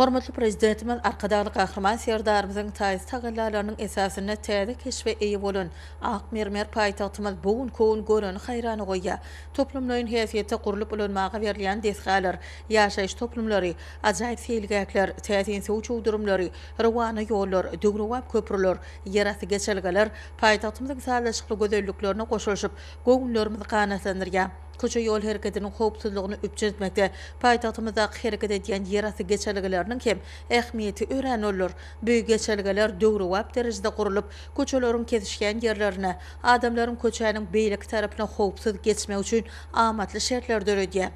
Hormatly Prezidentimiz Arkadagly Gahryman Serdarymyzyň taýsyz tagallalarynyň esasynda täze keşbe eýe bolan ak mermer paýtagtymyz bu gün köwün göreni haýrana goýýar. Toplumlaýyn häsiýetde gurlup ulanmaga berilýän desgalar, ýaşaýyş toplumlary, ajaýyp seýilgähler, täsin suw çuwdurymlary, rowana ýollar, döwrebap köprüler, ýerasty geçelgeler paýtagtymyzyň sazlaşykly gözelliklerine goşulyşyp, göwünlerimizi ganatlandyrýar. Köçe-ýol hereketiniň howpsuzlygyny üpjün etmekde paýtagtymyzdaky hereket edýän ýerasty geçelgeleriniň hem ähmiýeti örän uludyr. Bu geçelgeler döwrebap derejede gurlup, köçeleriň kesişýän ýerlerine, adamlaryň köçäniň beýleki tarapyna howpsuz geçmegi üçin amatly şertleri döredýär.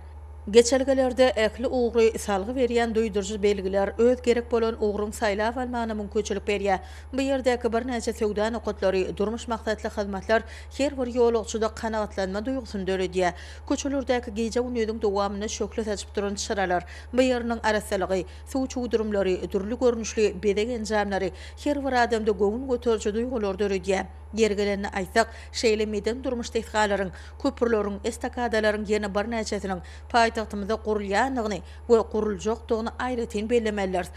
Geçelgelerde ähli ugry salgy berýän duýduryjy belgiler öz gerek bolan ugruň saýlap almagyna mümkinçilik berýär. Bu ýerdäki birnäçe söwda nokatlary, durmuş maksatly hyzmatlar her bir ýolagçyda kanagatlanma duýgusyny döredýär. Köçelerdäki gije-gündiziň dowamynda şöhle saçyp duran çyralar, BYR-nyň arassalygy, suw çuwdurymlary, dürli görnüşli bezeg enjamlary her bir adamda göwün göteriji duýgulary döredýär. Ýeri gelende aýtsak, şeýle medeni-durmuş desgalaryň, köprüleriň, estakadalaryň ýene birnäçesiniň paýtagtymyzda gurulýandygyny we guruljakdygyny aýratyn bellemelidiris.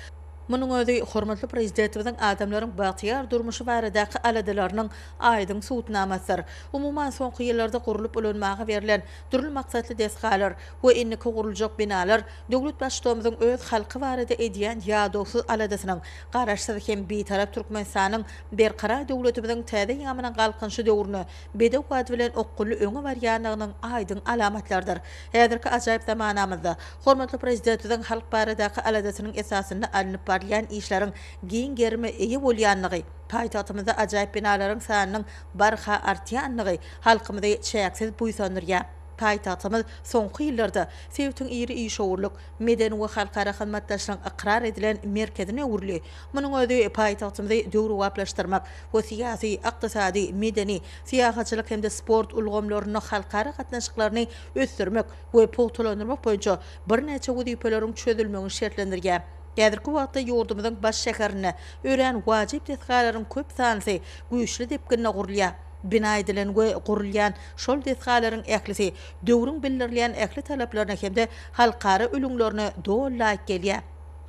Munuň özi hormatly Prezidentimiziň adamlaryň bagtyýar durmuşy baradaky aladalarynyň aýdyň subutnamasydyr. Umuman, soňky ýyllarda gurlup ulanmaga berlen dürli maksatly desgalar we indiki guruljak binalar döwlet Baştutamyzyň öz halky barada edýän ýadawsyz aladasynyň, Garaşsyz hem Bitarap Türkmenistanyň Berkarar döwletimiziň täze ýamynyň galkynyşy döwrüne bedew wagt bilen okgunly öňe barýandygynyň aýdyň alamatlarydyr. Häzirki ajaýyp zamanamyzda hormatly Prezidentimiziň halk baradaky aladasynyň esasynda alnyp barylýan işleriň giň gerime eýe bolýandygy, Paýtagtymyzda ajaýyp binalaryň sanynyň barha artýandygy halkymyzy çäksiz buýsandyrýar. Paýtagtymyz soňky ýyllarda sebitiň iri işewürlik, medeni we halkara hyzmatdaşlygyň ykrar edilen merkezine öwrüldi. Munuň özi paýtagtymyzy döwrebaplaşdyrmak we syýasy, ykdysady, medeni, syýahatçylyk hem-de sport ulgamlarynda halkara gatnaşyklaryny ösdürmek we pugtalandyrmak boýunça birnäçe wezipeleriň çözülmegini şertlendirýär. Häzirki wagtda ýurdumyzyň baş şäherinde örän wajyp desgalaryň köp sanlysy güýçli depginde gurulýar. Bina edilen we gurulýan şol desgalaryň ählisi döwrüň bildirilýän ähli talaplaryna hem-de halkara ülňülerine doly laýyk gelýär.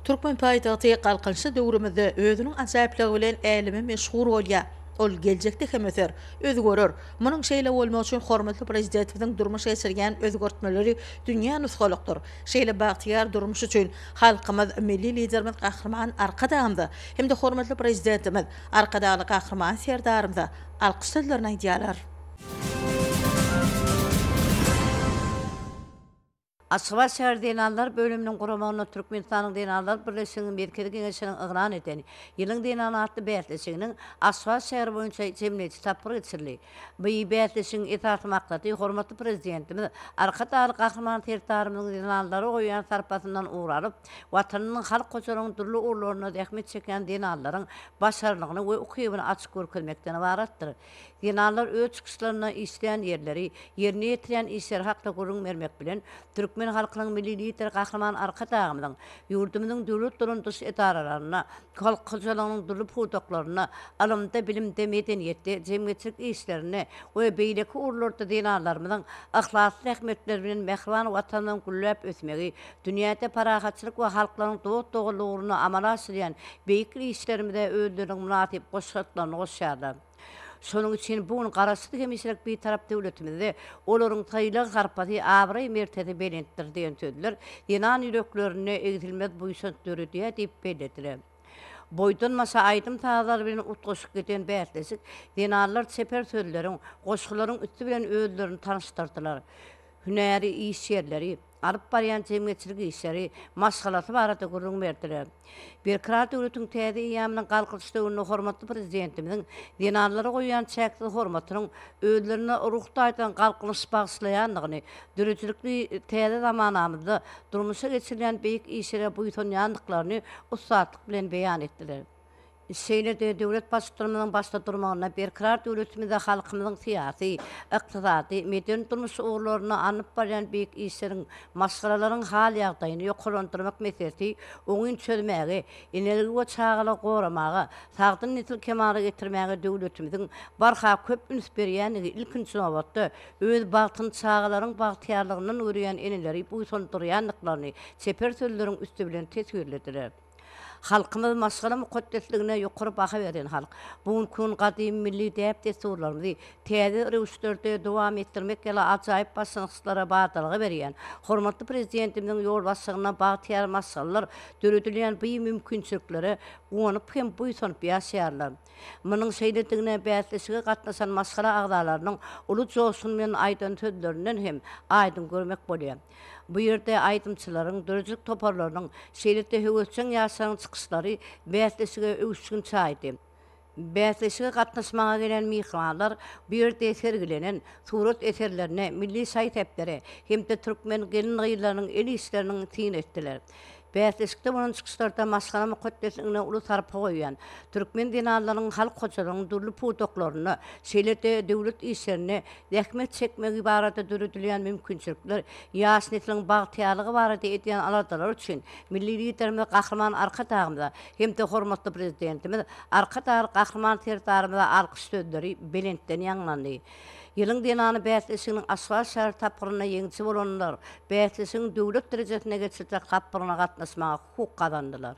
Türkmen paýtagty galkynyşly döwrümizde özüniň ajaýyplygy bilen äleme meşhur bolýar. Ol geljekde hem öser, özgerer. Munuň şeýle bolmagy üçin hormatly Prezidentimiziň durmuşa geçirýän özgertmeleri dünýä nusgalykdyr. Şeýle bagtyýar durmuş üçin halkymyz, Milli Liderimiz Gahryman Arkadagymyza hem-de hormatly Prezidentimiz, Arkadagly Gahryman Serdarymyza alkyş sözlerini aýdýarlar. Aşgabat şäher zenanlar bölüminiň guramagynda Türkmenistanyň Zenanlar birleşiginiň Merkezi Geňeşiniň yglan eden Ýylyň zenany atly bäsleşiginiň Aşgabat şäheri boýunça jemleýji tapgyry geçirildi. Bu bäsleşigiň esasy maksady hormatly Prezidentimiz Arkadagly Gahryman Serdarymyzyň zenanlara goýýan sarpasyndan ugur alyp, Watanynyň halk hojalygynyň dürli ugurlarynda zähmet çekýän zenanlaryň başarnygyny we ukybyny açyp görkezmekden ybaratdyr. Zenanlar öz çykyşlarynda işlän ýerleri, ýerine ýetirýän işleri hakda gürrüň bermek bilen, Türkmen halkynyň Milli Lideri Gahryman Arkadagymyzyň ýurdumyzyň döwlet dolandyryş edaralarynda, halk hojalygynyň dürli pudaklarynda, ylymda, bilimde, medeniýetde, jemgyýetçilik işlerinde we beýleki ugurlarda zenanlarymyzyň yhlasly zähmetleri bilen mähriban Watanymyzyň gülläp ösmegi, dünýäde parahatçylyk we halklaryň dost-doganlygy ugrunda amala aşyrýan beýik işlerimize özleriniň mynasyp goşantlaryny goşýarlar. Şonuň üçin bu gün Garaşsyz hemişelik Bitarap döwletimizde olaryň sylag-sarpasy, abraý-mertezi belentdir diýen sözler zenan ýüreklerinde egsilmez buýsanç döredýär diýip bellediler. Boýdan-başa aýdym-sazlar bilen utgaşyp giden bäsleşik zenanlar çeper sözleriň, goşgularyň üsti bilen özlerini tanyşdyrdylar, hünäri işgärleri, alyp barýan jemgyýetçilik işleri, maşgalasy barada gürrüň berdiler. Berkarar döwletiň täze eýýamynyň Galkynyş döwründe hormatly Prezidentimiziň zenanlara goýýan çäksiz hormatynyň özlerine ruh taýdan galkynyş bagyşlaýandygyny, döredijilikli täze zamanamyzda durmuşa geçirilýän beýik işlere buýsanýandyklaryny ussatlyk bilen beýan etdiler. Şeýle-de döwlet Baştutanymyzyň başda durmagynda berkarar döwletimizde halkymyzyň syýasy, ykdysady, medeni-durmuş ugurlarynda alnyp barýan beýik işleriň, maşgalalaryň hal-ýagdaýyny ýokarlandyrmak meselesi oňyn çözmäge, eneligi we çagalygy goramaga, sagdyn nesli kemala getirmäge döwletimiziň barha köp üns berýändigi ilkinji nobatda öz bagtyny çagalaryň bagtyýarlygyndan görýän eneleri buýsandyrýandyklaryny çeper sözleriň üsti bilen teswirlediler. Halkymyz maşgala mukaddesligine ýokary baha berýän halk. Bu günki gün gadymy milli däp-dessurlarymyzy täze röwüşlerde dowam etdirmek ýaly ajaýyp başlangyçlara badalga berýän hormatly Prezidentimiziň ýolbaşçylygynda bagtyýar maşgalalar döredilýän bu mümkinçiliklere guwanyp hem buýsanyp ýaşaýarlar. Munuň şeýledigine bäsleşige gatnaşan maşgala agzalarynyň uly joşgun bilen aýdan sözlerinden hem aýdyň görmek bolýar. Bu ýerde aýdymçylaryň, döredijilik toparlarynyň, şeýle-de höwesjeň ýaşlaryň çykyşlary bäsleşige öwüşgin çaýdy. Bäsleşige gatnaşmaga gelen myhmanlar bu ýerde sergilenen surat eserlerine, milli şaý-sepleri hem-de türkmen gelin-gyzlarynyň el işleriniň syn etdiler. Bäsleşikde bolan çykyşlarda maşgala mukaddesligine uly sarpa goýýan, türkmen zenanlarynyň halk hojalygynyň dürli pudaklarynda, şeýle-de döwlet işlerinde zähmet çekmegi barada döredilýän mümkinçilikler, ýaş nesliň bagtyýarlygy barada edýän aladalary üçin Milli Liderimiz Gahryman Arkadagymyza hem-de hormatly Prezidentimiz Arkadagly Gahryman Serdarymyza alkyş sözleri belentden ýaňlandy. Ýylyň zenany bäsleşiginiň Aşgabat şäher tapgyrynda ýeňiji bolanlar bäsleşigiň döwlet derejesinde geçiriljek tapgyryna gatnaşmaga hukuk gazandylar.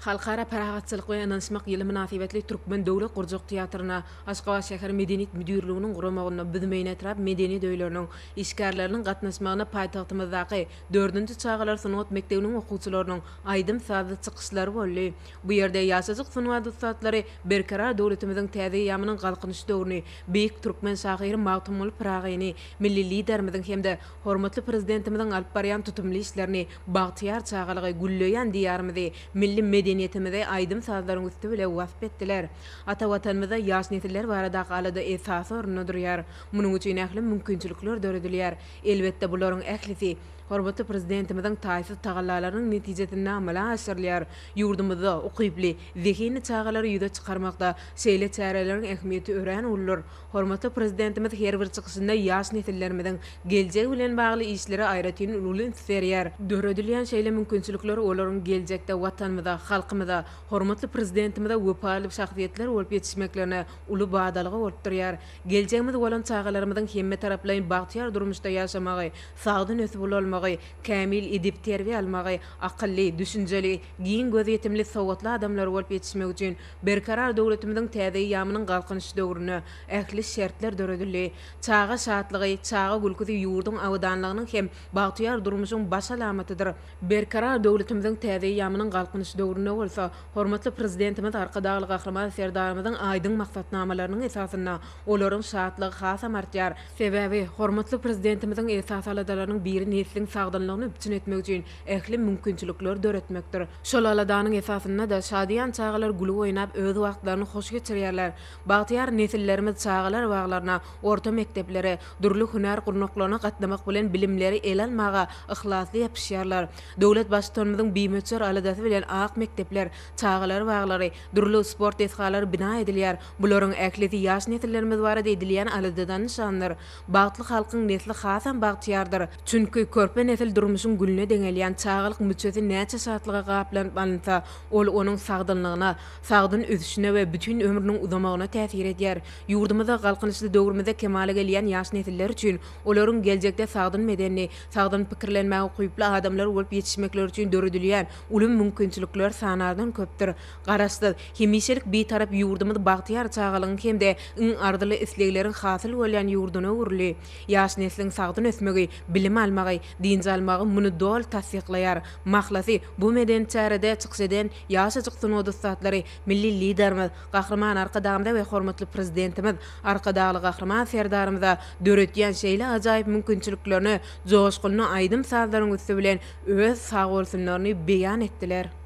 Halkara parahatçylyk we ynanyşmak ýyly mynasybetli Türkmen döwlet gurjak teatryna Aşgabat şäher Medeniýet müdirliginiň guramagynda Büzmeýin etrap medeniýet öýleriniň işgärleriniň gatnaşmagynda paýtagtymyzdaky dördünji çagalar sungat mekdebiniň okuwçylarynyň aýdym-sazly çykyşlary boldy. Bu ýerde ýaşajyk sungat ussatlary Berkarar döwletimiziň täze eýýamynyň Galkynyş döwrüni, beýik türkmen şahyry Magtymguly Pyragyny, milli Liderimiziň hem-de hormatly Prezidentimiziň alyp barýan tutumly işlerini, bagtyýar çagalygy, gülleýän Diýarymyzy, milli medeniýetimizi aýdym-sazlaryň üsti bile wasp etdiler. Ata Watanymyzda ýaş nesiller baradaky alada esasy orunda durýar. Munuň üçin ähli mümkinçilikler döredilýär. Elbetde, bularyň ählisi hormatly Prezidentimiziň taýsyz tagallalarynyň netijesinde amala aşyrylýar. Ýurdumyzda ukyply, zehinli çagalary ýüze çykarmakda şeýle çäreleriň ähmiýeti örän uludyr. Hormatly Prezidentimiz her bir çykyşynda ýaş nesillerimiziň geljegi bilen bagly işlere aýratyn uly üns berýär. Döredilýän şeýle mümkinçilikler olaryň geljekde Watanymyza, halkymyza, hormatly Prezidentimize wepaly şahsyýetler bolup ýetişmeklerine uly badalga bolup durýar. Geljegimiz bolan çagalarymyzyň hemmetaraplaýyn bagtyýar durmuşda ýaşamagy, sagdyn ösüp-ulalmagy, kämil edep-terbiýe almagy, Akylly, düşünjeli, giň gözýetimli, sowatly adamlar bolup ýetişmek üçin Berkarar döwletimiziň täze eýýamynyň Galkynyş döwründe ähli şertler döredildi. Çaga şatlygy, çaga gülküsi ýurduň abadanlygynyň hem bagtyýar durmuşyň baş alamatydyr. Berkarar döwletimiziň täze eýýamynyň Galkynyş döwründe bolsa hormatly Prezidentimiz Arkadagly Gahryman Serdarymyzyň aýdyň maksatnamalarynyň esasynda olaryň şatlygy hasam artýar. Sebäbi, hormatly Prezidentimiziň esasy aladalarynyň biri nesliň sagdynlygyny üpjün etmek üçin ähli mümkinçilikleri döretmekdir. Şol aladanyň esasynda-da şadyýan çagalar gülüp oýnap öz wagtlaryny hoş geçirýärler. Bagtyýar nesillerimiz çagalar baglaryna, orta mekdeplere, dürli hünär gurnaklaryna gatnamak bilen bilimleri ele almaga yhlasly ýapyşýarlar. Döwlet Baştutanymyzyň bimöçber aladasy bilen ak mekdepler, çagalar baglary, dürli sport desgalary bina edilýär, Bularyň ählisi ýaş nesillerimiz barada edilýän aladadan nyşandyr. Bagtly halkyň nesli hasam bagtyýardyr. Çünki, körpe nesil durmuşyň gülüne deňelýän çagalyk müçesi näçe şatlyga gaplanyp alynsa, ol onuň sagdynlygyna, sagdyn ösüşine we bütin ömrüniň uzamagyna täsir edýär. Ýurdumyzda galkynyşly döwrümizde kemala gelýän ýaş nesiller üçin, olaryň geljekde sagdyn bedenli, sagdyn pikirlenmäge ukyply adamlar bolup ýetişmekleri üçin döredilýän uly mümkinçilikler sanardan köpdür. Garaşsyz, hemişelik Bitarap ýurdumyz bagtyýar çagalygyň hem-de iň arzyly islegleriň hasyl bolýan ýurduna öwrüldi. Ýaş nesliň sagdyn ösmegi, bilim almagy, dynç almagy muny doly tassyklaýar. Mahlasy, bu medeni çärede çykyş eden ýaşajyk sungat ussatlary milli Liderimiz Gahryman Arkadagymyza we hormatly Prezidentimiz Arkadagly Gahryman Serdarymyza döretýän şeýle ajaýyp mümkinçiliklerine joşgunly aýdym-sazlaryň üsti bilen öz sagbolsunlaryny beýan etdiler.